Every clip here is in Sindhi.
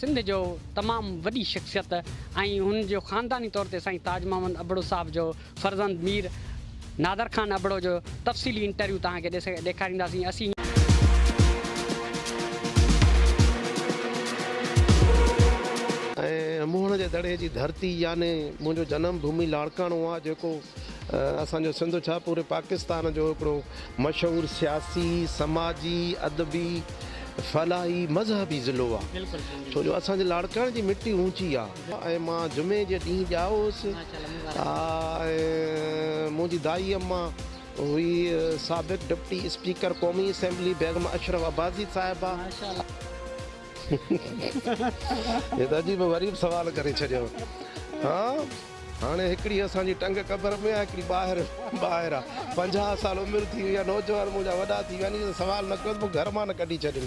سنڌ جو تمام وڏي شخصيت ۽ هن جو خانداني طور تي سائين تاج محمد ابڙو صاحب جو فرزند مير نادر خان ابڙو جو تفصيلي انٽرويو توهان کي ڏيکارينداسين اسين ۽ موهڻ جي دڙي جي ڌرتي يعني منهنجو جنم ڀومي لاڙڪاڻو آ جيڪو اسان جو سنڌ ڇا پوري پاڪستان جو هڪڙو مشهور سياسي، سماجي، ادبي، فلاحي، مذهبي ضلعو آ. ڇو جو اسان جي لاڙڪاڻي جي مٽي اونچي آ. ۽ مان جمعي جي ڏينهن ڄائو هوس ۽ منهنجي دائي اما هئي سابق ڊپٽي اسپيڪر قومي اسيمبلي بيگم اشرف عباسي صاحبه. هي ته عجيب و غريب سوال ڪري ڇڏيو ها. هاڻي هڪڙي اسان جي ٽنگ قبر ۾ آ هڪڙي ٻاهر ٻاهر آ پنجاهه سال عمر ٿي وئي آ نوجوان منهنجا وڏا ٿي ويا آهن اهو سوال نه ڪيو ته مون گهر مان نه ڪڍي ڇڏين.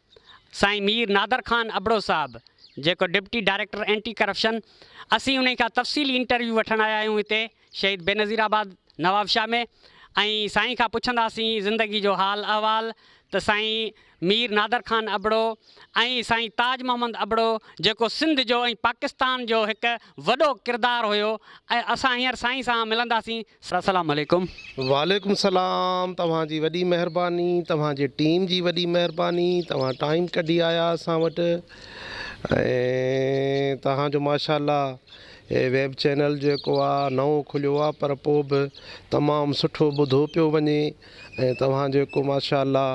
سائين مير نادر خان ابڙو صاحب جيڪو ڊپٽي ڊائريڪٽر اينٽي ڪرپشن اسين انهي کان تفصيلي انٽرويو وٺڻ آيا آهيون هتي شهيد بينظير آباد نوابشاهه ۾ ۽ سائين کان پڇنداسين زندگي جو حال احوال ته سائين مير نادر خان ابڙو ۽ سائين تاج محمد ابڙو جيڪو سنڌ جو ۽ پاڪستان جو هڪ وڏو ڪردار هيو ۽ اسان هينئر سائين سان ملنداسين سلام عليڪم. وعليڪم سلام توهان جي وڏي مهرباني توهان جي ٽيم جي وڏي مهرباني توهان ٽائيم ڪڍي آيا اسان وٽ ۽ توهان جو ماشاءالله هي ويب چينل جيڪو آ نئون کليو آ پر پو به تمام سٺو ٻڌو پيو وڃي ۽ توهان جيڪو ماشاءالله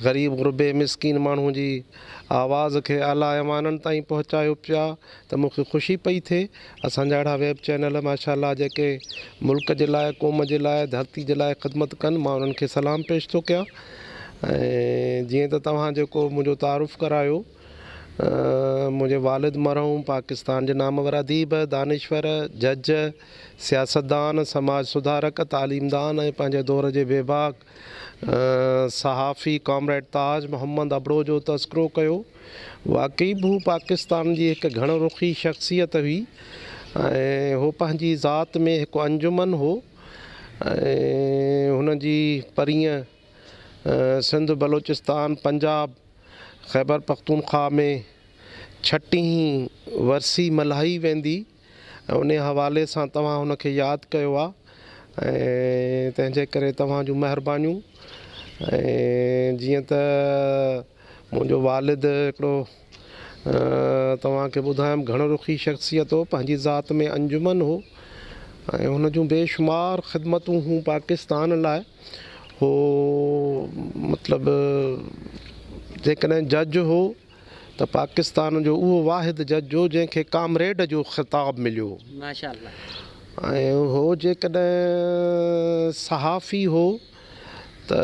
غريب غربي مسڪين ماڻهو جي آواز کي اعليٰ ايوانن تائين پهچايو پيا ته مون کي خوشي پئي ٿئي اسان جا اهڙا ويب چينل ماشاء الله جيڪي ملڪ جي لاء قوم جي لاء ڌرتي جي لاء خدمت ڪن مان انهن کي سلام پيش ٿو ڪيان ۽ جيئن ته توهان جيڪو منهنجو تعارف ڪرايو منهنجي والد مرحوم پاڪستان جي نامور اديب دانشور جج سياستدان سماج سڌارڪ تعليمدان ۽ پنهنجي دور جي بيباڪ صحافي ڪامريڊ تاج محمد ابڙو جو تذڪرو ڪيو، واقعي به هو پاڪستان جي هڪ گهڻ رخي شخصيت هئي ۽ هو پنهنجي ذات ۾ هڪ انجمن هو ۽ هن جي پرينء سنڌ، بلوچستان، پنجاب، خيبرپختونخواهه ۾ ڇٽينهين ورسي ملهائي ويندي. ۽ انهيء حوالي سان توهان هن کي ياد ڪيو آهي ۽ تنهنجي ڪري توهان جون مهربانيون ۽ جيئن ته منهنجو والد هڪڙو توهان کي ٻڌايم گهڻ رخي شخصيت هو پنهنجي ذات ۾ انجمن هو ۽ هن جون بي شمار خدمتون هو پاڪستان لاء هو مطلب جيڪڏهن جج هو ته پاڪستان جو اهو واحد جج هو جنهن کي ڪامريڊ جو خطاب مليو ۽ هو جيڪڏهن صحافي هو ته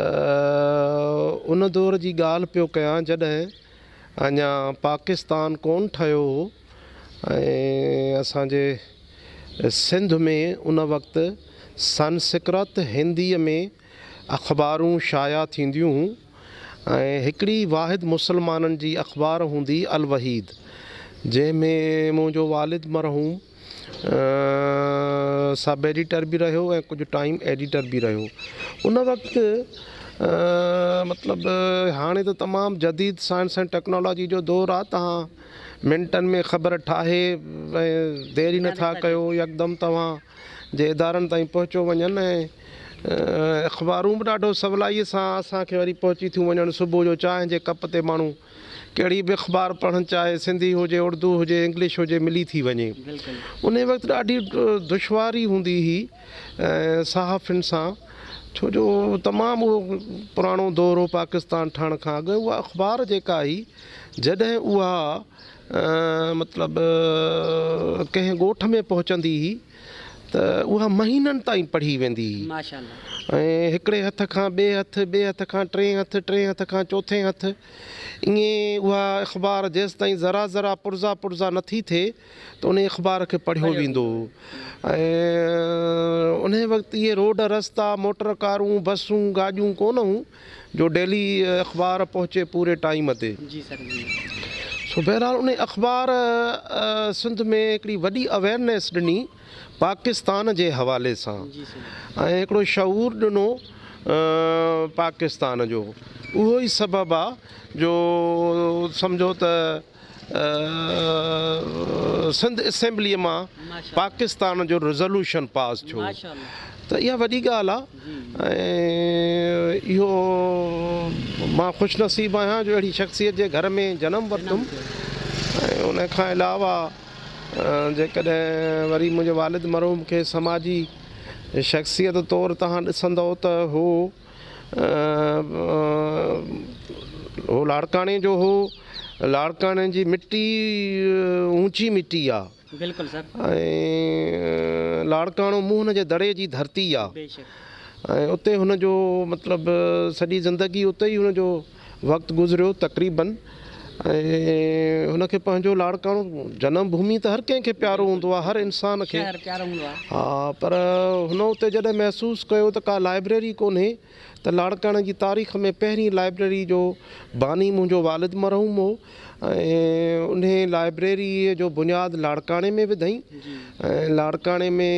ان دور جي ڳالهه پيو ڪيان جڏهن اڃا پاڪستان ڪون ٺهيو هو ۽ اسان جي سنڌ ۾ ان وقت سنسڪرت هندي ۾ اخبارون شايع ٿينديون هون ۽ هڪڙي واحد مسلمانن جي اخبار هوندي الوحيد جنهن ۾ منهنجو والد مرحوم سب ايڊيٽر به رهيو ۽ ڪجهه ٽائيم ايڊيٽر به رهيو ان وقت مطلب هاڻي ته تمام جديد سائنس ۽ ٽيڪنالاجي جو دور آ تهان منٽن ۾ خبر ٺاهي ۽ دير ئي نٿا ڪيو يڪدم توهان جي ادارن تائين پهچيو وڃن ۽ اخبارون به ڏاڍو سولائيء سان اسان کي وري پهچي ٿيون وڃن. صبح جو چانهه جي ڪپ تي ماڻهو ڪهڙي به اخبار پڙهڻ چاهي، سنڌي هجي، اڙدو هجي، انگلش هجي، ملي ٿي وڃي. انهيء وقت ڏاڍي دشواري هوندي هئي صحافين سان، ڇو جو تمام اهو پراڻو دور هو پاڪستان ٺهڻ کان اڳ. اها اخبار جيڪا هئي، جڏهن اها مطلب ڪنهن ڳوٺ ۾ پهچندي هئي ته اها مهينن تائين پڙهي ويندي هئي ۽ هڪڙي هٿ کان ٻئي هٿ، ٻئي هٿ کان ٽئين هٿ، ٽئين هٿ کان چوٿين هٿ ائين اها اخبار جيستائين ذرا ذرا پرزا پرزا نه ٿي ٿئي ته انهي اخبار کي پڙهيو ويندو هو ۽ انهي وقت اهي روڊ رستا، موٽر ڪارون، بسون، گاڏيون ڪونه هيون جو ڊيلي اخبار پهچي پوري ٽائيم تي. سو بهرحال انهي اخبار سنڌ ۾ هڪڙي وڏي اويرنيس ڏني پاڪستان جي حوالي سان ۽ هڪڙو شعور ڏنو پاڪستان جو اهو ئي سبب آ جو سمجهو ته سنڌ اسيمبليء مان پاڪستان جو ريزولوشن پاس ٿيو ته اها وڏي ڳالهه آهي ۽ اهو مان خوش نصيب آهيان جو اهڙي شخصيت جي گهر ۾ جنم ورتم ۽ ان کان علاوه جيڪڏهن وري منهنجي والد مرحوم کي سماجي شخصيت طور تهان ڏسندؤ ته هو هو لاڙڪاڻي جو هو لاڙڪاڻي جي مٽي اوچي مٽي آ بلڪل سر ۽ لاڙڪاڻو موهن جي دڙي جي ڌرتي آ ۽ اتي هن جو مطلب سڄي زندگي اتي ئي هن جو وقت گذريو تقريباً ۽ هن کي پنهنجو لاڙڪاڻو جنم ڀومي ته هر ڪنهن کي پيارو هوندو آهي، هر انسان کي ها پر هن اتي جڏهن محسوس ڪيو ته ڪا لائبريري ڪونهي ته لاڙڪاڻي جي تاريخ ۾ پهرين لائبريري جو باني منهنجو والد مرحوم هو ۽ انهي لائبريري جو بنياد لاڙڪاڻي ۾ وڌائين ۽ لاڙڪاڻي ۾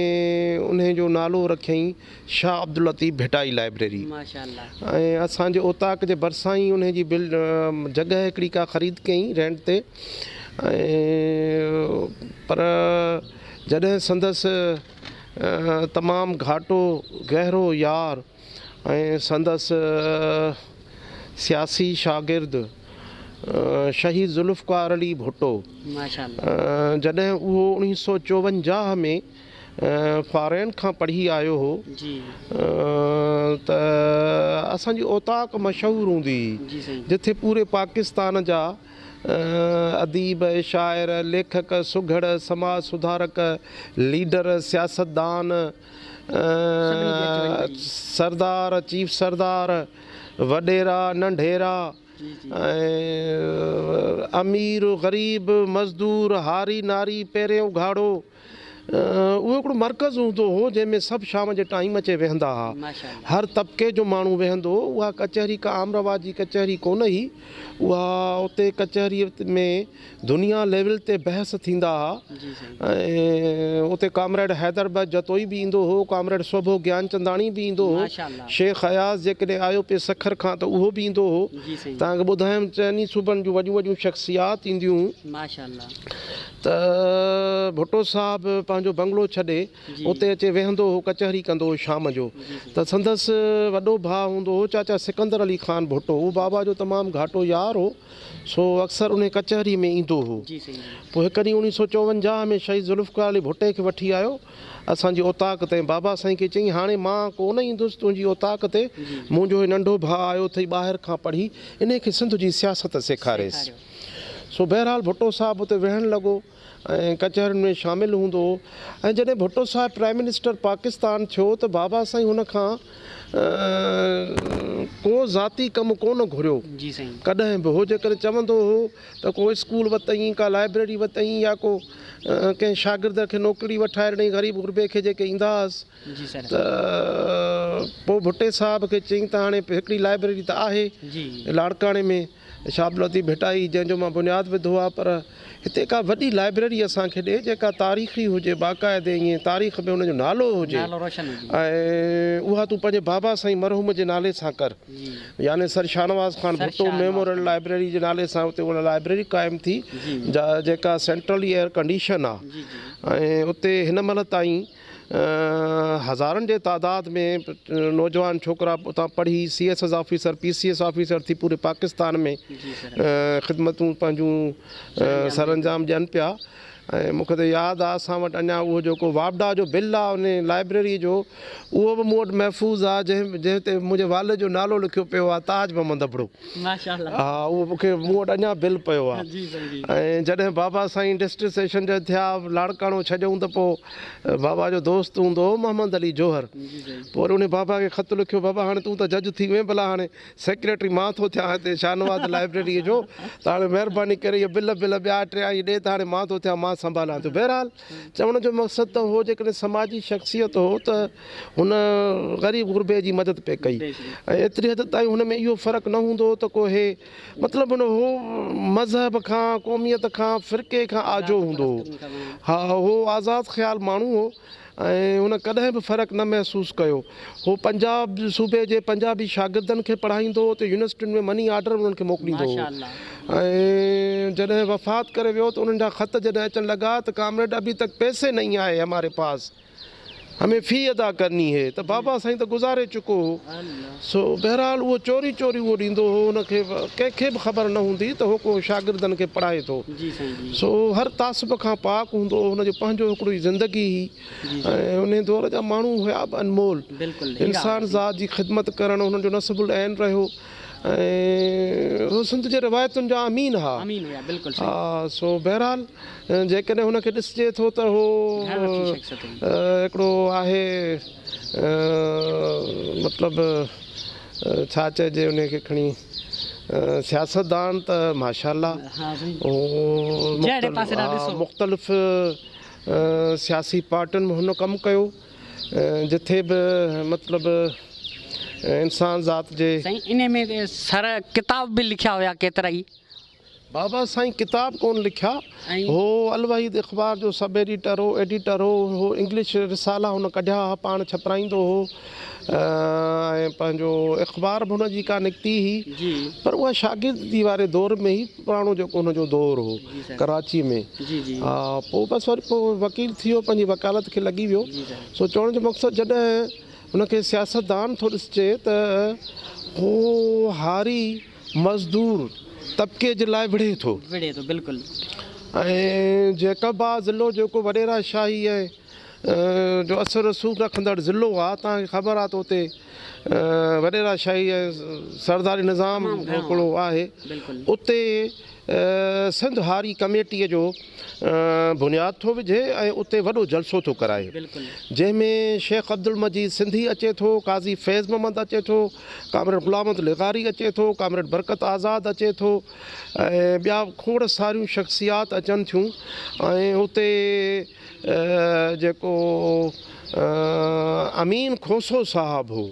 انهي جو نالو رکيائين شاهه عبداللطيف ڀٽائي لائبريري ۽ اسان جي اوطاق جي ڀرسان ئي انهي جي جڳهه هڪڙي ڪا خريد ڪيائين رينٽ تي ۽ پر جڏهن سندس تمام گهاٽو گهرو يار ۽ سندس سياسي شاگرد شهيد ذوالفقار علي ڀٽو جڏهن اهو اڻيهه سؤ چوونجاهه ۾ فارين کان پڙهي آيو هو ته اسان جي اوطاق مشهور هوندي هئي جتي پوري پاڪستان جا اديب شاعر ليکڪ سگهڙ سماج سڌارڪ ليڊر سياستدان سردار چيف سردار وڏيرا ننڍيرا ۽ امير غريب مزدور هاري ناري پهرين اگهاڙو اهو هڪڙو مرڪز هوندو هو جنهن ۾ سڀ شام جي ٽائيم اچي ويهندا ها. هر طبقي جو ماڻهو ويهندو هو. اها ڪچهري ڪا عام رواج جي ڪچهري ڪونه هئي. اها اتي ڪچهري ۾ دنيا ليول تي بحث ٿيندا ها ۽ اتي ڪامريڊ حيدر بخش جتوئي به ايندو هو، ڪامريڊ سوڀو گيانچنداڻي به ايندو هو، شيخ اياز جيڪڏهن آيو پئي سکر کان ته اهو به ايندو هو. توهان کي ٻڌايم چئني صوبن جون وڏيون وڏيون شخصيات اينديون هيون. ته ڀٽو صاحب پنهنجو بنگلو ڇڏي اتي اچي ويهندو هو ڪچهري ڪندو هو شام جو ته سندس وڏو ڀاء هوندو هو چاچا سڪندر علي خان ڀٽو هو بابا جو تمام گهاٽو يار هو سو اڪثر انهي ڪچهري ۾ ايندو هو پوء هڪ ڏينهن اوڻيهه سو چوونجاهه ۾ شهيد ذوالفقار علي ڀٽي کي وٺي آيو اسان جي اوطاق تي بابا سائين کي چيائين هاڻي مان ڪو نه ايندس تنهنجي اوطاق تي منهنجو هي ننڍو ڀاء آيو اٿئي ٻاهر کان پڙهي انهي کي سنڌ جي سياست سيکاريس. سو بهرحال ڀٽو صاحب اتي ويهڻ لڳو ۽ ڪچهرين ۾ شامل هوندو هو ۽ جڏهن ڀٽو صاحب پرائم منسٽر پاڪستان ٿيو ته بابا سائين هن کان ڪو ذاتي ڪم ڪونه گهريو ڪڏهن به هو جيڪڏهن چوندو هو ته ڪو اسڪول وتئين ڪا لائبريري وتئين يا ڪو ڪنهن شاگرد کي نوڪري وٺائي ڏنئين غريب غربي کي جيڪي ايندا هئس ته پوء ڀٽي صاحب کي چئين ته هاڻي هڪڙي لائبريري ته آهي لاڙڪاڻي ۾ شاپ لطيف ڀٽائي جنهن جو مان بنياد وڌو آهي پر هتي ڪا وڏي لائبريري اسان کي ڏي جيڪا تاريخي هجي باقاعدي ائين تاريخ ۾ ان جو نالو هجي ۽ اها تون پنهنجي بابا سائين مرحوم جي نالي سان ڪر يعني sir Shahnawaz Khan Bhutto memorial library جي نالي سان اتي اها لائبريري قائم ٿي جيڪا سينٽرلي ايئر ڪنڊيشن آهي ۽ اتي هن مهل تائين هزارن جي تعداد ۾ نوجوان ڇوڪرا اتان پڙهي C S S officer P C S officer ٿي پوري پاڪستان ۾ خدمتون پنهنجون سر انجام ڏين پيا ۽ مون کي ته ياد آ اسان وٽ اڃا اهو جيڪو واپڊا جو بل آ ان لائبريري جو اهو به مون وٽ محفوظ آ جنهن جنهن تي منهنجي والد جو نالو لکيو پيو آ تاج محمد ابڙو ماشاءالله ها اهو مون کي مون وٽ اڃا بل پيو آ ۽ جڏهن بابا سائين ڊسٽرڪٽ سيشن جج ٿيا لاڙڪاڻو ڇڏيائون ته پو بابا جو دوست هوندو هو محمد علي جوهر. پوء وري انهي بابا کي خط لکيو، بابا هاڻي تون ته جج ٿي وئين ڀلا هاڻي سيڪريٽري مان ٿو ٿيان هتي شاهنواز لائبريريء جو ته هاڻي مهرباني ڪري اهي بل بل ٻيا ٽيا ائين ڏي ته هاڻي مان ٿو ٿيان مان سنڀاليان ٿو. بهرحال چوڻ جو مقصد ته هو جيڪڏهن سماجي شخصيت هو ته هن غريب غربي جي مدد پئي ڪئي ۽ ايتري حد تائين هن ۾ اهو فرق نه هوندو هو ته ڪو هي مطلب هن هو مذهب کان، قوميت کان، فرقي کان آجو هوندو هو. ها هو آزاد خيال ماڻهو هو ۽ هن ڪڏهن به فرق نه محسوس ڪيو. هو پنجاب صوبي جي پنجابي شاگردن کي پڙهائيندو هو ته يونيورسٽين ۾ مني آرڊر انهن کي موڪليندو هو ۽ جڏهن وفات ڪري ويو ته انهن جا خط جڏهن اچڻ لڳا ته ڪامريڊ ابهي تڪ پيسي نهين آئي هماري پاس. همي في ادا ڪرني هي ته بابا سائين ته گذاري چڪو هو سو بهرحال اهو چوري چوري اهو ڏيندو هو ان کي ڪنهن کي به خبر نه هوندي ته هو ڪو شاگردن کي پڙهائي ٿو سو اهو هر تعصب کان پاڪ هوندو هو ان جو پنهنجو هڪڙو ئي زندگي هئي ۽ انهي دور جا ماڻهو هيا به انمول انسان ذات جي خدمت ڪرڻ هنن جو نصب العين رهيو ۽ هو سنڌ جي روايتن جا امين ها. ها سو بهرحال جيڪڏهن هن کي ڏسجي ٿو ته هو هڪڙو آهي مطلب ڇا چئجي انهي کي کڻي سياستدان ته ماشاء الله هو مختلف سياسي پارٽين ۾ هن ڪم ڪيو. جٿي به مطلب انسان ذات جي. سائين انهي ۾ سر ڪتاب به لکيا هيا ڪيترائي. بابا سائين ڪتاب ڪون لکيا هو الوحيد اخبار جو سب ايڊيٽر هو ايڊيٽر هو هو انگلش رسالا هن ڪڍيا ها پاڻ ڇپرائيندو هو ۽ پنهنجو اخبار به هن جي ڪا نڪتي هئي پر اها شاگردي واري دور ۾ هئي پراڻو جيڪو ان جو دور هو ڪراچي ۾ ها پوء بس وري پوء وڪيل ٿي ويو پنهنجي وڪالت کي لڳي ويو سو چوڻ جو مقصد جڏهن ان کي سياستدان ٿو ڏسجي ته هو هاري مزدور طبقي جي لاء وڙهي ٿو ۽ جيڪب آ ضلعو جيڪو وڏيرا شاهي ۽ جو اثر رسوخ رکندڙ ضلعو آ، توهان کي خبر آ ته اتي وڏيرا شاهي ۽ سرداري نظام هڪڙو آهي، اتي سنڌ هاري ڪميٽيء جو بنياد ٿو وجهي ۽ اتي وڏو جلسو ٿو ڪرائي، جنهن ۾ شيخ عبدالمجيد سنڌي اچي ٿو، قاضي فيض محمد اچي ٿو، ڪامريڊ غلام محمد لغاري اچي ٿو، ڪامريڊ برڪت آزاد اچي ٿو ۽ ٻيا به کوڙ ساريون شخصيات اچن ٿيون ۽ اتي جيڪو امين کوسو صاحب هو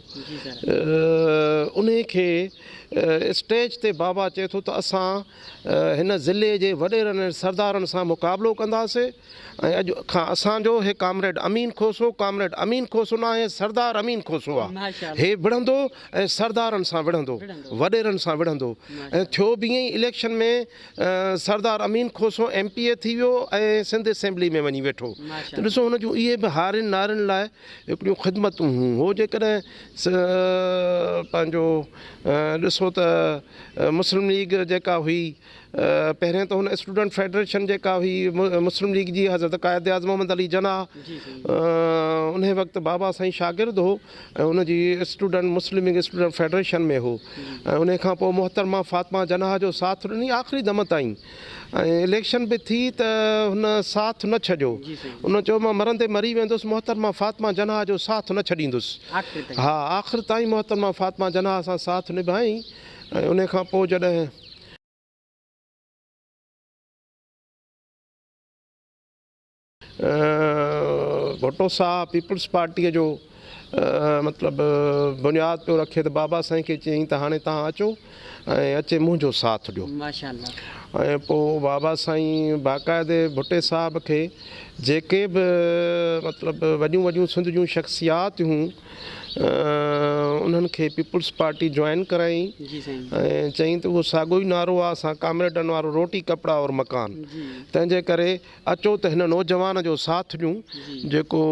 انهي کي اسٽيج تي بابا چئي ٿو ته اسان هن ضلعي جي وڏيرن ۽ سردارن سان مقابلو ڪنداسي ۽ اڄ کان اسان جو هي ڪامريڊ امين کوسو ڪامريڊ امين کوسو ناهي سردار امين کوسو آ هي وڙهندو ۽ سردارن سان وڙهندو وڏيرن سان وڙهندو ۽ ٿيو به ائين election ۾ Sardar Amin Khoso M P A ٿي ويو ۽ سنڌ اسيمبلي ۾ وڃي ويٺو ته ڏسو هن جون اهي به هارين نارين لاء هڪڙيون خدمتون هيون هو جيڪڏهن پنهنجو ڏسو ته مسلم ليگ جيڪا هئي پهرين ته هن اسٽوڊنٽ فيڊريشن جيڪا هئي مسلم ليگ جي حضرت قائد اعظم محمد علي جناح ان وقت بابا سائين شاگرد هو ۽ ان جي student Muslim League student federation ۾ هو ۽ انهي کان پوء محترمه فاطمه جناح جو ساٿ ڏني آخري دم تائين ۽ اليڪشن به ٿي ته هن ساٿ نه ڇڏيو ان چيو مان مرندي مري ويندس محترمه فاطمه جناح جو ساٿ نه ڇڏيندس ها آخر تائين محترمه فاطمه جناح سان ساٿ نڀائين ۽ انهي کان پوء جڏهن ڀٽو صاحب پيپلز پارٽيء جو مطلب بنياد پيو رکي ته بابا سائين کي چيائين ته هاڻي توهان اچو ۽ اچي منهنجو ساٿ ڏيو ۽ پوء بابا سائين باقاعدي ڀٽي صاحب کي جيڪي به مطلب وڏيون وڏيون سنڌ جون شخصيات هيون انهن کي پيپلز پارٽي جوائن ڪرائين ۽ چيائين ته اهو ساڳو ئي نعرو آهي اسان ڪامريڊن وارو روٽي ڪپڙا اور مڪان تنهنجي ڪري اچو ته هن نوجوان جو ساٿ ڏيون جيڪو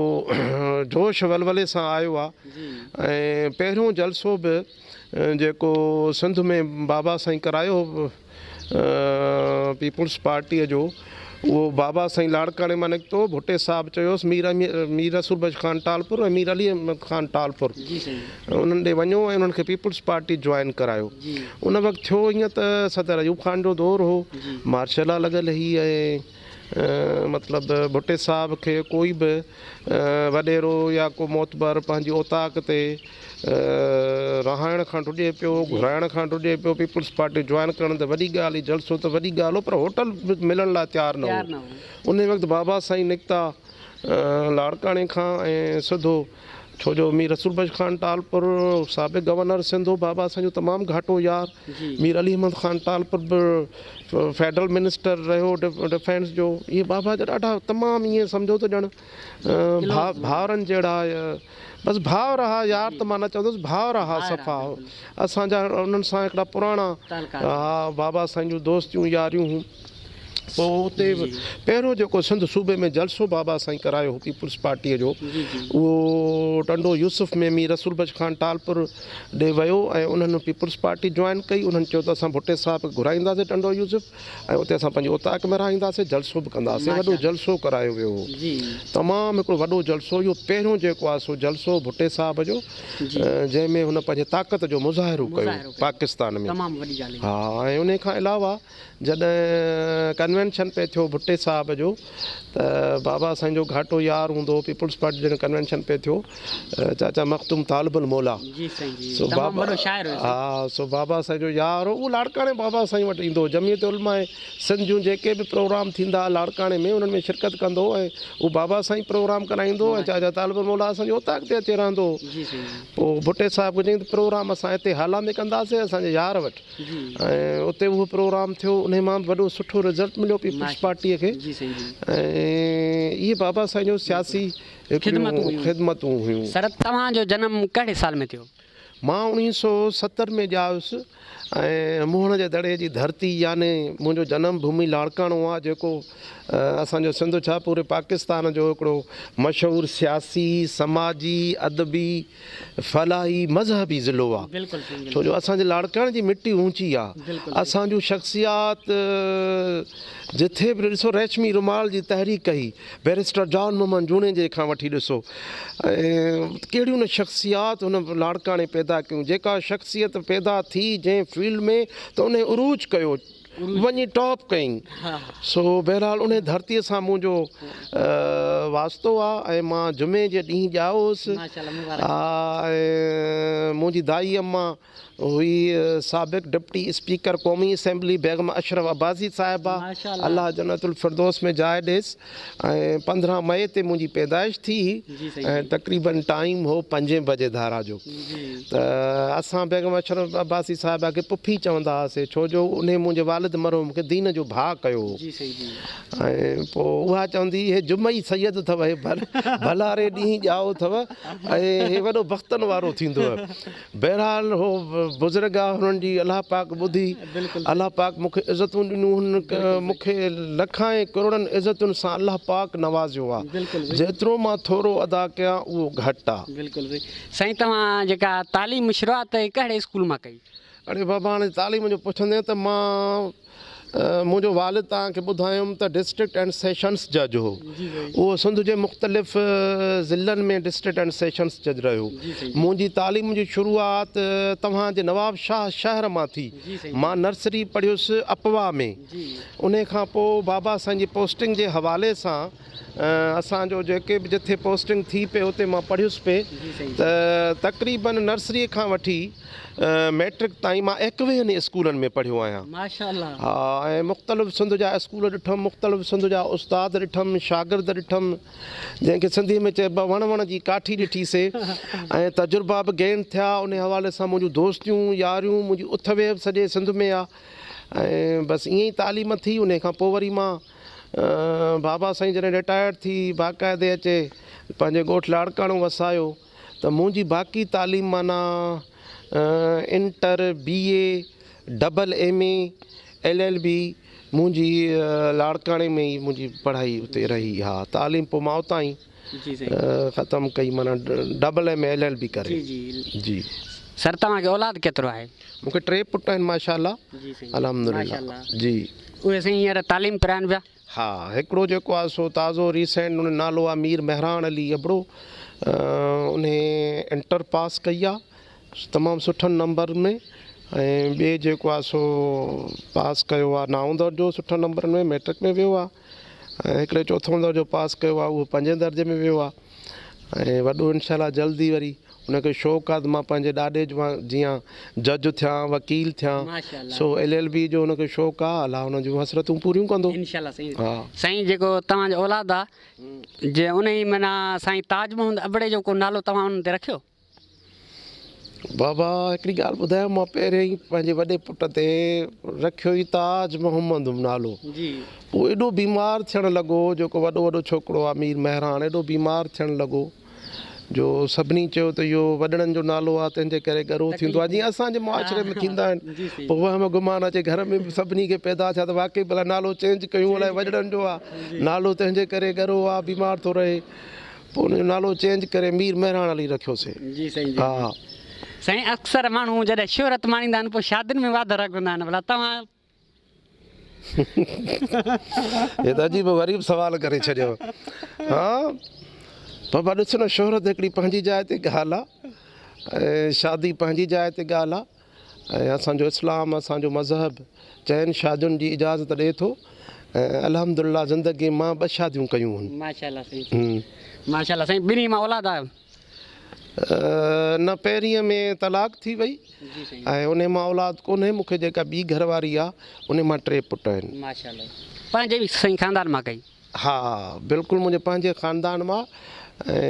جوش ولولي سان آيو آ ۽ پهريون جلسو به جيڪو سنڌ ۾ بابا سائين ڪرايو پيپلز پارٽي جو اهو بابا سائين لاڙڪاڻي مان نڪتو ڀٽي صاحب چيوس مير مير رسول بخش خان ٽالپر ۽ مير علي احمد خان ٽالپر انهن ڏي وڃو ۽ انهن کي پيپلز پارٽي جوائن ڪرايو. ان وقت ٿيو ائين ته صدر ايوب خان جو دور هو، مارشل لا لڳل هئي ۽ مطلب ڀٽي صاحب کي ڪوئي به وڏيرو يا ڪو معتبر پنهنجي اوطاق تي رهائڻ کان ڊڄي پيو، گهرائڻ کان ڊڄي پيو، پيپلز پارٽي جوائن ڪرڻ ته وڏي ڳالهه هئي، جلسو ته وڏي ڳالهه هو پر هوٽل به ملڻ لاء تيار نه هو. انهي وقت بابا سائين نڪتا لاڙڪاڻي کان ۽ سڌو ڇو جو مير رسول بخش خان ٽالپر سابق گورنر سنڌ هو بابا اسان جو تمام گهاٽو يار مير علي احمد خان ٽالپر به فيڊرل منسٽر رهيو ڊفينس جو اهي بابا جا ڏاڍا تمام ائين سمجهو ته ڄڻ ڀاورن جهڙا بس ڀاء رها يار ته مان نه چوندس ڀاء رها صفا اسان جا انهن سان هڪڙا پراڻا بابا سائين جون دوستيون ياريون هيون پوء اتي به پهريون جيڪو سنڌ صوبي ۾ جلسو بابا سائين ڪرايو هو پيپلز پارٽيء جو اهو ٽنڊو يوسف ۾ مير رسول بخش خان ٽالپر ڏي ويو ۽ انهن پيپلز پارٽي جوائن ڪئي انهن چيو ته اسان ڀٽي صاحب کي گهرائينداسين ٽنڊو يوسف ۽ اتي اسان پنهنجي اوطاق ۾ رهائينداسين جلسو به ڪنداسين وڏو جلسو ڪرايو ويو هو تمام هڪڙو وڏو جلسو اهو پهريون جيڪو آهي سو جلسو ڀٽي صاحب جو جنهن ۾ هن پنهنجي طاقت جو مظاهرو ڪيو پاڪستان ۾ ها ۽ انهي کان علاوه جڏهن ڪنوينشن پئي ٿيو ڀٽي صاحب جو ته بابا سائين جو گهاٽو يار هوندو هو پيپلز پارٽي جڏهن ڪنوينشن پئي ٿيو چاچا مخدوم طالب الموليٰ جي سائين جي سو تمام بابا وڏو شاعر هيو سائين ها سو بابا سائين جو يار هو اهو لاڙڪاڻي بابا سائين وٽ ايندو هو جمعيت علماء سنڌ جون جيڪي به پروگرام ٿيندا ها لاڙڪاڻي ۾ انهن ۾ شرڪت ڪندو هو ۽ اهو بابا سائين پروگرام ڪرائيندو هو ۽ ماشاء چاچا طالب الموليٰ اسان جي اوطاق تي اچي رهندو هو الله جي سائين جي پوء ڀٽي صاحب کي چيائين ته پروگرام اسان هتي هالا ۾ ڪنداسين اسان جي يار وٽ ۽ اتي اهو پروگرام ٿيو انهي مان به وڏو سٺو رزلٽ مليو پيپلز پارٽي کي ۽ اهي بابا سائين جون سياسي هڪڙيون خدمتون هيون. سر توهان جو جنم ڪهڙي سال ۾ ٿيو؟ مان اوڻيهه سو ستر ۾ ڄايس ۽ موهڻ جي دڙي جي ڌرتي يعني منهنجو جنم ڀومي لاڙڪاڻو آ جيڪو اسان جو سنڌ ڇا پوري پاڪستان جو هڪڙو مشهور سياسي سماجي ادبي فلاحي مذهبي ضلعو آ ڇو جو اسان جي لاڙڪاڻي جي مٽي اوچي آ اسان جون شخصيات جٿي به ڏسو ريشمي رومال جي تحريڪ ڪئي بيرسٽر جان محمد جوڻيجي کان وٺي ڏسو ڪهڙيون نه شخصيات هن لاڙڪاڻي پيدا ڪيون جيڪا شخصيت پيدا ٿي جنهن فيلڊ ۾ ته انهي عروج ڪيو وڃي ٽاپ ڪئين سو بهرحال انهي ڌرتي سان منهنجو واسطو آ ۽ مان جمعي جي ڏينهن ڄائو هوس ها ۽ منهنجي دائي اما هئي سابق ڊپٽي اسپيڪر قومي اسيمبلي بيگم اشرف عباسي صاحبه الله جنت الفردوس ۾ جاء ڏيس. ۽ پندرهن مئي تي منهنجي پيدائش ٿي هئي ۽ تقريبن ٽائيم هو پنجين بجي ڌارا جو ته اسان بيگم اشرف عباسي صاحبه کي پڦي چوندا هئاسي ڇو جو انهي منهنجي والد مرحوم کي دين جو ڀاء ڪيو هو ۽ پوء اها چوندي هئي هي جمعي سيد اٿئو هي ڀلاري ڏينهن ڄائو اٿئو ۽ هي وڏو بختن وارو ٿيندوئه بهرحال هو بزرگ آ هنن جي الله پاڪ ٻڌي الله پاڪ مون کي عزتون ڏنيون هن مون کي لکائين ڪروڙن عزتن سان الله پاڪ نوازيو آ جيترو مان ٿورو ادا ڪيان اهو گهٽ آ. بلڪل بلڪل سائين توهان جيڪا تعليم شروعات ڪهڙي اسڪول مان ڪئي. اڙي بابا هاڻي تعليم جو پڇندين ته مان. منهنجو والد توهان کي ٻڌايم ته ڊسٽرڪٽ اينڊ سيشنس جج هو. اهو سنڌ جي مختلف ضلعن ۾ ڊسٽرڪٽ اينڊ سيشنس جج رهيو. منهنجي تعليم جي شروعات توهان جي نوابشاهه شهر مان ٿي. مان نرسري پڙهيس اپواء ۾. انهي کان پوء بابا سائين جي پوسٽنگ جي حوالي سان اسان جو جيڪي به جٿي پوسٽنگ ٿي پئي اتي مان پڙهيس پئي ته تقريبا نرسري کان وٺي ميٽرڪ تائين مان ايڪويهن ئي اسڪولن ۾ پڙهيو آهيان ها ۽ مختلف سنڌ جا اسڪول ڏٺم مختلف سنڌ جا استاد ڏٺم شاگرد ڏٺم جنهن کي سنڌي ۾ چئبو آهي وڻ وڻ جي ڪاٺي ڏٺي سي ۽ تجربا به گين ٿيا انهي حوالي سان منهنجون دوستيون ياريون منهنجي اٿ ويهه به سڄي سنڌ ۾ آهي ۽ بس ائين ئي تعليم ٿي انهي کان پوء وري مان بابا سائين جڏهن رٽائرڊ ٿي باقاعدي اچي پنهنجي ڳوٺ لاڙڪاڻو وسايو ته منهنجي باقي تعليم معنيٰ inter, B A, double M A, L L B منهنجي لاڙڪاڻي ۾ ئي منهنجي پڙهائي اتي رهي ها تعليم پوء ماء تائين. جي سائين. ختم ڪئي معنيٰ double M A L L B ڪري. جي جي جي. سر توهان کي اولاد ڪيترو آهي؟ مون کي ٽي پٽ آهن ماشاء الله. جي سائين. الحمد ماشاء لله. الله. جي. اهي سائين هينئر تعليم پراين پيا؟ ها هڪڙو جيڪو آهي سو تازو ريسينٽ ان جو نالو آهي مير مهراڻ علي ابڙو انهي انٽر پاس ڪئي آهي تمام سٺن نمبرن ۾ ۽ ٻئي جيڪو آهي سو پاس ڪيو آهي نائون درجو سٺن نمبرن ۾ مئٽرڪ ۾ ويو آهي ۽ هڪڙي چوٿون درجو پاس ڪيو آهي اهو پنجين درجي ۾ ويو آهي ۽ وڏو انشاء الله جلد ئي وري ان کي شوق آهي ته مان پنهنجي ڏاڏي جيان جج ٿيان وڪيل ٿيان سو ايل ايل بي جو ان کي شوق آهي الله ان جون حسرتون پوريون ڪندو سائين جيڪو توهان جو اولاد آهي جي انهي معنيٰ سائين تاج محمد ابڙي جو ڪو نالو توهان انهن تي رکيو؟ بابا هڪڙي ڳالهه ٻڌايو مان پهريائين ئي پنهنجي وڏي پٽ تي رکيو هئي تاج محمد هو نالو هو ايڏو بيمار ٿيڻ لڳو جيڪو وڏو وڏو ڇوڪرو آ مير مهراڻ ايڏو بيمار ٿيڻ لڳو جو سڀني چيو ته اهو وڏڙن جو نالو آ تنهن جي ڪري ڳرو ٿيندو آ جيئن اسان جي معاشري ۾ ٿيندا آهن پوء وهم گمان اچي گهر ۾ به سڀني کي پيدا ٿيا ته واقعي ڀلا نالو چينج ڪيون الائي وڏڙن جو آ نالو تنهن جي ڪري ڳرو آ بيمار ٿو رهي پوء ان جو نالو چينج ڪري مير مهراڻ علي رکيو سين. جي سائين جي جي سائين اڪثر ماڻهو جڏهن شهرت ماڻيندا آهن پوء شادين ۾ واڌ رڳ هوندا آهن ڀلا توهان. هي ته عجيب و غريب سوال ڪري ڇڏيو ها بابا ڏس نه شهرت هڪڙي پنهنجي جاء تي ڳالهه آ ۽ شادي پنهنجي جاء تي ڳالهه آ ۽ اسان جو اسلام اسان جو مذهب چئن شادين جي اجازت ڏئي ٿو ۽ الحمد الله زندگي مان ٻه شاديون ڪيون هن. ماشاء الله سائين ھمم. ماشاء الله سائين ٻنهي مان اولاد آيو. نه پهرينء ۾ طلاق ٿي وئي ۽ انهي مان اولاد ڪونهي مونکي جيڪا ٻي گهر واري آ انهي مان ٽي پٽ آهن. ماشاء الله پنهنجي به سائين خاندان مان ڪئي. ها بلڪل منهنجي پنهنجي خاندان مان ۽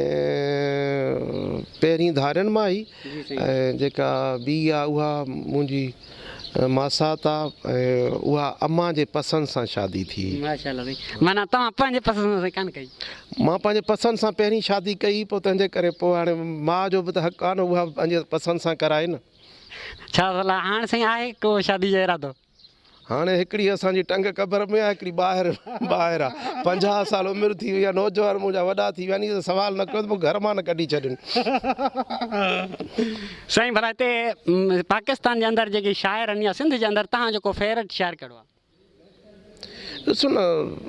پهرين ڌارين مان هي ۽ جيڪا ٻي آ اها منهنجي ماسات آ ۽ اها امان جي پسند سان شادي ٿي. ماشاء الله سائين معنيٰ توهان پنهنجي پسند سان سائين ڪانه ڪئي. مان پنهنجي پسند سان پهرين شادي ڪئي پوء تنهنجي ڪري پوء هاڻي ماء جو به ته حق آ نه اها به پنهنجي پسند سان ڪرائي نه. ڇا صلاح هاڻ سائين آهي ڪو شادي جو ارادو. هاڻي هڪڙي اسان جي ٽنگ قبر ۾ آ هڪڙي ٻاهر ٻاهر آ پنجاهه سال عمر ٿي وئي آ نوجوان منهنجا وڏا ٿي ويا ني سوال نه ڪيو ته مون گهر مان نه ڪڍي ڇڏين. سائين ڀلا هتي پاڪستان جي اندر جيڪي شاعر آهن يا سنڌ جي اندر تهان جو ڪو فيورٽ شاعر ڪهڙو آ؟ ڏسو نه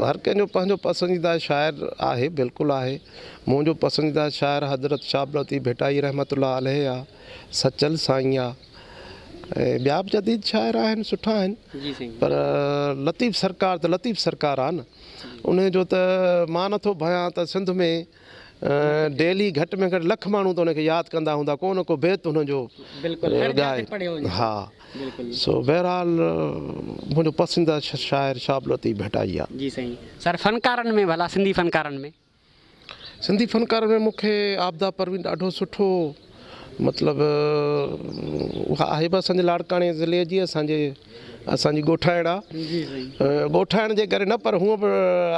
هر ڪنهن جو پنهنجو پسنديده شاعر آهي بلڪل آهي منهنجو پسنديده شاعر حضرت شاهه عبداللطيف ڀٽائي رحمت الله عليه آ سچل سائين آ. ۽ ٻيا به جديد شاعر آهن سٺا آهن پر لطيف سرڪار ته لطيف سرڪار آهي نه ان جو ته مان نٿو ڀانيان ته سنڌ ۾ ڊيلي گهٽ ۾ گهٽ لک ماڻهو ته ان کي ياد ڪندا هوندا ڪو نه ڪو بيت ان جو ڳائي ها سو بهرحال منهنجو پسنديده شاعر شهاب لطيف ڀٽائي آهي جي سائين سر فنڪارن ۾ ڀلا سنڌي فنڪارن ۾ سنڌي فنڪارن ۾ مون کي عابده پروين ڏاڍو سٺو مطلب اها آهي به اسانجي لاڙڪاڻي ضلعي جي اسانجي اسانجي ڳوٺائڻ آهي ڳوٺائڻ جي ڪري نه پر هونء به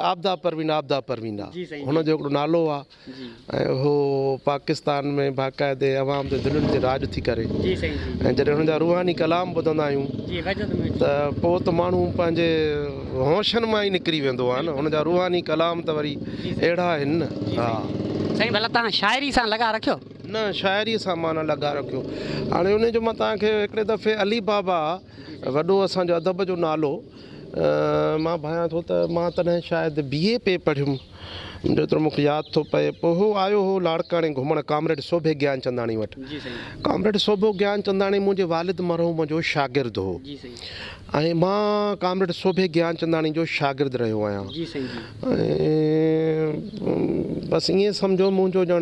عابده پروين عابده پروين آهي هن جو هڪڙو نالو آهي ۽ هو پاڪستان ۾ باقاعدي عوام جي دلين تي راڄ ٿي ڪري ۽ جڏهن هن جا روحاني ڪلام ٻڌندا آهيون ته پوء ته ماڻهو پنهنجي هوشن مان ئي نڪري ويندو آهي نه ان جا روحاني ڪلام ته وري اهڙا آهن نه ها. سائين ڀلا توهان شاعري سان لڳاء رکيو؟ نه شاعري سان مان نه لڳاء رکيو هاڻي ان جو مان توهان کي هڪڙي دفعي علي بابا وڏو اسان جو ادب جو نالو مان ڀانيان ٿو ته مان تڏهن شايد بي اي پي پڙهيم. جيترو مون کي ياد ٿو پئي پوء هو آيو هو لاڙڪاڻي گهمڻ ڪامريڊ سوڀي گيانچنداڻي وٽ. ڪامريڊ سوڀو گيانچنداڻي منهنجي والد مرحوم جو شاگرد هو ۽ مان ڪامريڊ سوڀي گيانچنداڻي جو شاگرد رهيو آهيان ۽ بس ائين سمجهو منهنجو ڄڻ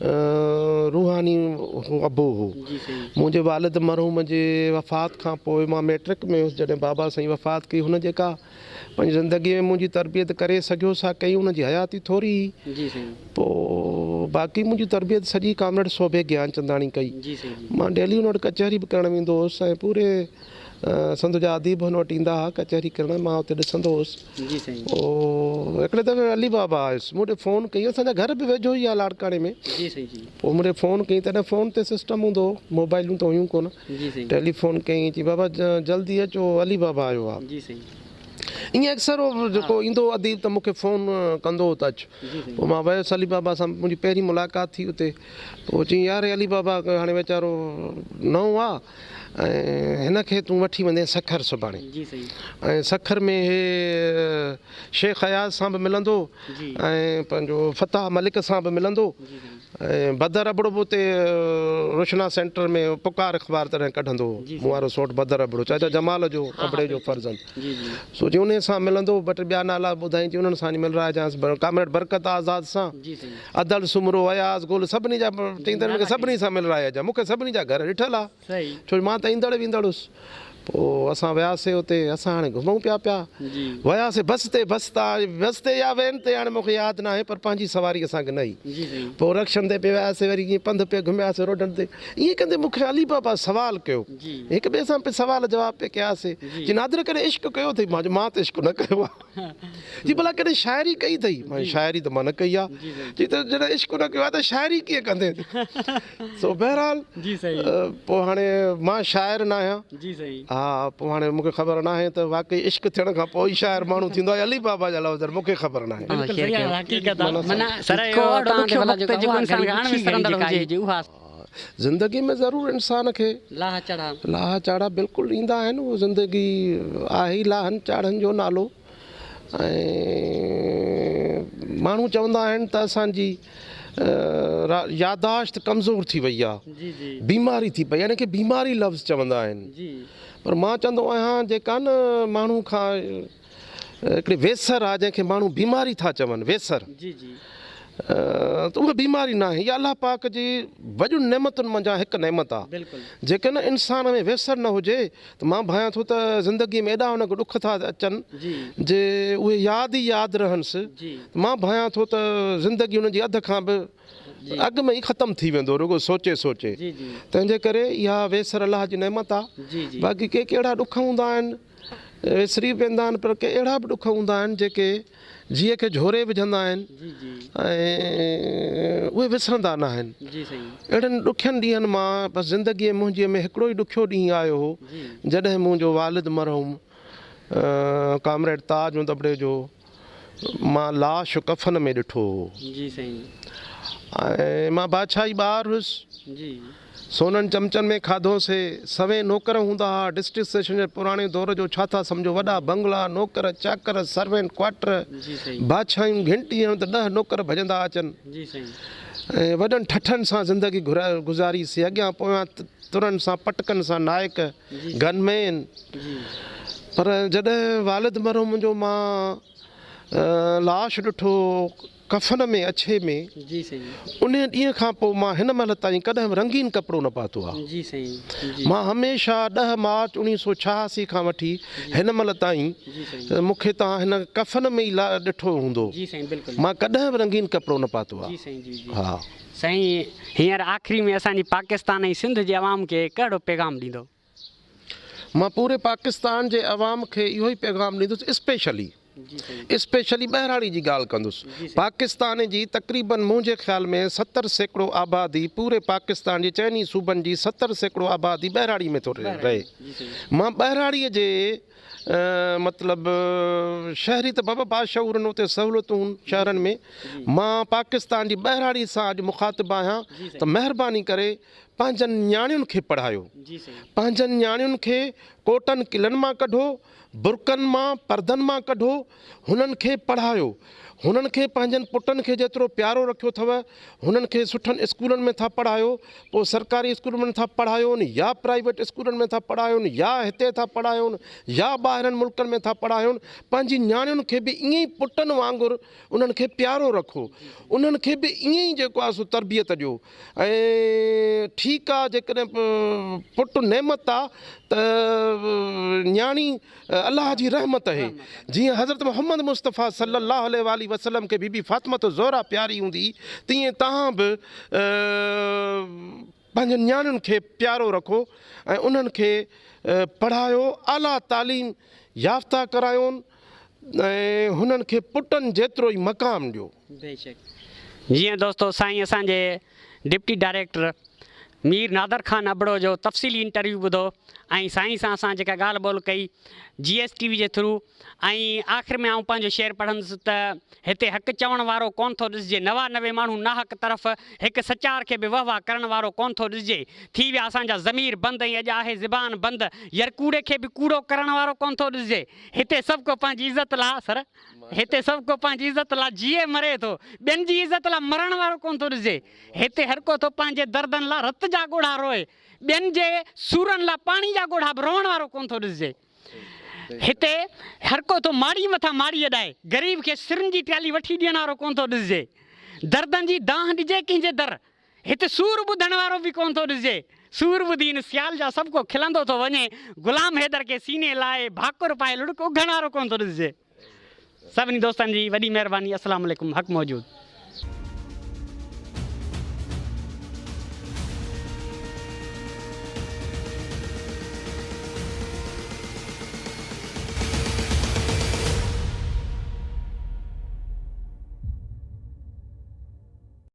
روحاني ابو هو. منهنجي والد مرحوم جي وفات کان پوء مان مئٽرڪ ۾ هيس جڏهن بابا سائين وفات ڪئي هن جيڪا پنهنجي زندگي ۾ منهنجي تربيت ڪري سگهيو سا ڪئي هن جي حياتي ٿوري هئي پوء باقي منهنجي تربيت سڄي ڪامريڊ سوڀي گيانچنداڻي ڪئي مان ڊيلي هن وٽ ڪچهري به ڪرڻ ويندو هوس ۽ پوري سنڌ جا اديب هن وٽ ايندا ها ڪچهري ڪرڻ مان اتي ڏسندو هوس. هڪڙي دفعي علي بابا آيس مون ڏي فون ڪئي اسان جا گهر به ويجهو ئي آ لاڙڪاڻي ۾ پوء مون ڏي فون ڪئي تڏهن فون تي سسٽم هوندو هو موبائلون ته هيون ڪونه ٽيلي فون ڪئي چي بابا جلدي اچو علي بابا آيو آ ائين اڪثر هو جيڪو ايندو هو اديب ته مون کي فون ڪندو هو ته اچ پوء مان ويس علي بابا سان منهنجي پهرين ملاقات ٿي اتي پوء چيائين يار هي علي بابا هاڻي ويچارو نئون آ ۽ هن کي تون وٺي ويندين سکر سڀاڻي ۽ سکر ۾ هي شيخ اياز سان به ملندو ۽ پنهنجو فتاح ملڪ سان به ملندو ۽ بدر ابڙو به اتي روشنا سينٽر ۾ پڪار اخبار تڏهن ڪڍندو هو مون وارو سوٽ بدر ابڙو چاچا جمال جو ابڙي جو فرزند سو جي انهيء سان ملندو، ٻه ٽي ٻيا نالا به ٻڌائين جي انهن سان وڃي ملراء جانس، ڪامريڊ برڪت آزاد سان، ادل سومرو، اياز گل، سڀني جا چئين ته مونکي سڀني سان ملراء هجان، مون کي سڀني جا گهر ڏٺل آ، ڇو جو مان ته ايندڙ ويندڙ هوس. پوء اسان وياسي اتي، اسان هاڻي گهمون پيا پيا وياسي بس تي، بس تان بس تي يا وين تي هاڻي مون کي ياد ناهي پر پنهنجي سواري اسان کي نه هئي، پوء رڪشن تي پئي وياسي وري ائين پنڌ پئي گهمياسي روڊن تي، ائين ڪندي مون کي علي بابا سوال ڪيو. هڪ ٻئي سان پئي سوال جواب پئي ڪياسين جي نادر ڪڏهن عشق ڪيو اٿئي؟ مان چيو مان ته عشق نه ڪيو آهي جي ڀلا ڪڏهن شاعري ڪئي اٿئي؟ مان چيو شاعري ته مان نه ڪئي آهي چي ته جڏهن عشق نه ڪيو آهي ته شاعري ڪيئن ڪندين سو بهرحال پوء هاڻي مان شاعر نه آهيان ها پوء هاڻي مون کي خبر ناهي ته واقعي عشق ٿيڻ کان پوء ئي شاعر ماڻهو ٿيندو آهي يا علي بابا جا لفظ مون کي خبر ناهي. زندگي ۾ ضرور انسان کي لاها چاڙها. لاها چاڙها بلڪل ايندا آهن اهو زندگي آهي ئي لاهن چاڙهن جو نالو ۽ ماڻهو چوندا آهن ته اسان جي ياداشت ڪمزور ٿي وئي آ بيماري ٿي پئي آ ان کي بيماري لفظ چوندا آهن پر مان چوندو آهيان جيڪا نه ماڻهو کان هڪڙي ويسر آ جنهن کي ماڻهو بيماري ٿا چون ويسر ته اها بيماري ناهي اها الله پاڪ جي وڏين نعمتن منجهان هڪ نعمت آ جيڪڏهن انسان ۾ ويسر نه هجي ته مان ڀانيان ٿو ته زندگي ۾ ايڏا هنکي ڏک ٿا اچن جي اهي ياد ئي ياد رهنس ته مان ڀانيان ٿو ته زندگي هن جي اڌ کان به اڳ ۾ ئي ختم ٿي ويندو رڳو سوچي سوچي تنهن جي ڪري اها ويسر الله جي نعمت آ باقي ڪي ڪي اهڙا ڏک هوندا آهن ويسري به ويندا آهن پر ڪي اهڙا به ڏک هوندا آهن جيڪي جيء کي جهوري وجهندا آهن ۽ اهي وسرندا ناهن اهڙن ڏکين ڏينهن مان بس زندگي منهنجي ۾ هڪڙو ئي ڏکيو ڏينهن آيو هو جڏهن منهنجو والد مرحوم ڪامريڊ تاج اندٻڙي جو مان لاش ڪفن ۾ ڏٺو هو. جي سائين. ۽ مان بادشاهي ٻار هيس. جي. سونن چمچن ۾ کاڌو سي. سوين نوڪر هوندا ها. ڊسٽرڪٽ سيشن جي پراڻي دور جو ڇا ٿا سمجهو. وڏا بنگلا، نوڪر، چاڪر، سروينٽ ڪوارٽر، جي سائين. بادشاهيون گهنٽي هڻ ته ڏهه نوڪر ڀڄندا اچن. جي سائين. ۽ وڏن ٺٺن سان زندگي گهرا گذاري سي. اڳيان پويان ترن سان پٽڪن سان نائڪ. گن مين پر جڏهن والد مرحوم جو مان لاش ڏٺو ڪفن ۾ اڇي ۾ انهي ڏينهن کان پوء مان هن مهل تائين ڪڏهن به رنگين ڪپڙو نه پاتو آ مان هميشه ڏهه مارچ اوڻيهه سو ڇهاسي کان وٺي هن مهل تائين مون کي توهان هن ڪفن ۾ ئي ڏٺو هوندو مان ڪڏهن به رنگين ڪپڙو نه پاتو آ. سائين هينئر آخري ۾ اسان جي پاڪستان ۽ سنڌ جي عوام کي ڪهڙو پيغام ڏيندو؟ مان پوري پاڪستان جي عوام کي اهو ئي پيغام ڏيندس اسپيشلي اسپيشلي ٻهراڙي جي ڳالهه ڪندس پاڪستان جي تقريبن منهنجي خيال ۾ ستر سيڪڙو آبادي پوري پاڪستان جي چئني صوبن جي ستر سيڪڙو آبادي ٻهراڙي ۾ ٿو رهي مان ٻهراڙي جي مطلب شهري ته بابا باشعورن اتي سهولتون شهرن ۾ مان پاڪستان جي ٻهراڙي سان اڄ مخاطب آهيان ته مهرباني ڪري پنهنجن نياڻين کي پڙهايو پنهنجن نياڻين کي ڪوٽن قلعن مان ڪڍو برقعن مان پردن مان ڪڍو هنن کي پڙهايو. هنن کي پنهنجن پٽن کي جيترو پيارو رکيو ٿو. هنن کي سٺن اسڪولن ۾ ٿا پڙهايو. پوء سرڪاري اسڪولن ۾ ٿا پڙهايون يا پرائيويٽ اسڪولن ۾ ٿا پڙهايون يا هتي ٿا پڙهايون يا ٻاهرن ملڪن ۾ ٿا پڙهايون. پنهنجي نياڻين کي به ائين ئي پٽن وانگر انهن کي پيارو رکو. انهن کي به ائين ئي جيڪو آهي سو تربيت ڏيو. ۽ ٺيڪ آهي جيڪڏهن پٽ نعمت آهي ته نياڻي الله جي رحمت اهي جيئن حضرت محمد مصطفيٰ صلّي الله عليه واٰله وسلّم کي بي بي فاطمة الزهرا پياري هوندي تيئن توهان به پنهنجن نياڻين کي پيارو رکو ۽ انهن کي پڙهايو اعليٰ تعليم يافته ڪرايون ۽ هنن کي پٽن جيترو ئي مقام ڏيو. بيشڪ جيئن دوستو سائين اسان جي ڊپٽي ڊائريڪٽر مير نادر خان ابڙو جو تفصيلي انٽرويو ٻڌو ۽ سائين سان اسان جيڪا ڳالهه ٻولهه ڪئي جي ايس ٽي وي جي ٿرو ۽ آخر ۾ آئون پنهنجو شعر پڙهندس ته هتي حق چوڻ وارو ڪونه ٿو ڏسجي نوا نوي ماڻهو ناحق طرف هڪ سچار کي به وهه وهه ڪرڻ وارو ڪونه ٿو ڏسجي ٿي ويا اسان جا ضمير بند ۽ اڄ آهي زبان بند يرڪوڙي کي به ڪوڙو ڪرڻ وارو ڪونه ٿو ڏسجي هتي سڀڪو پنهنجي عزت لا سر هتي سڀ ڪو پنهنجي عزت لا جيئي مري ٿو. ٻين جي عزت لا مرڻ وارو ڪونه ٿو ڏسجي. هتي هر ڪو ٿو پنهنجي دردن لا رت جا ڳوڙها روئي. ٻين جي سورن لا پاڻي جا ڳوڙها به روئڻ وارو ڪونه ٿو ڏسجي. هتي هر ڪو ٿو ماڙيء مٿان ماڙي اڏائي. غريب کي سرن جي پيالي وٺي ڏيڻ وارو ڪونه ٿو ڏسجي. دردن جي دانهن ڏجي ڪنهن جي در. هت سور ٻڌڻ وارو به ڪونه ٿو ڏسجي. سور ٻڌي هن سيال جا سڀ ڪو کلندو ٿو وڃي. غلام حيدر کي سيني لائي ڀاڪر پائي لڙڪ اگهڻ وارو ڪونه ٿو ڏسجي. سڀني دوستن جي وڏي مهرباني السلام عليڪم حق موجود.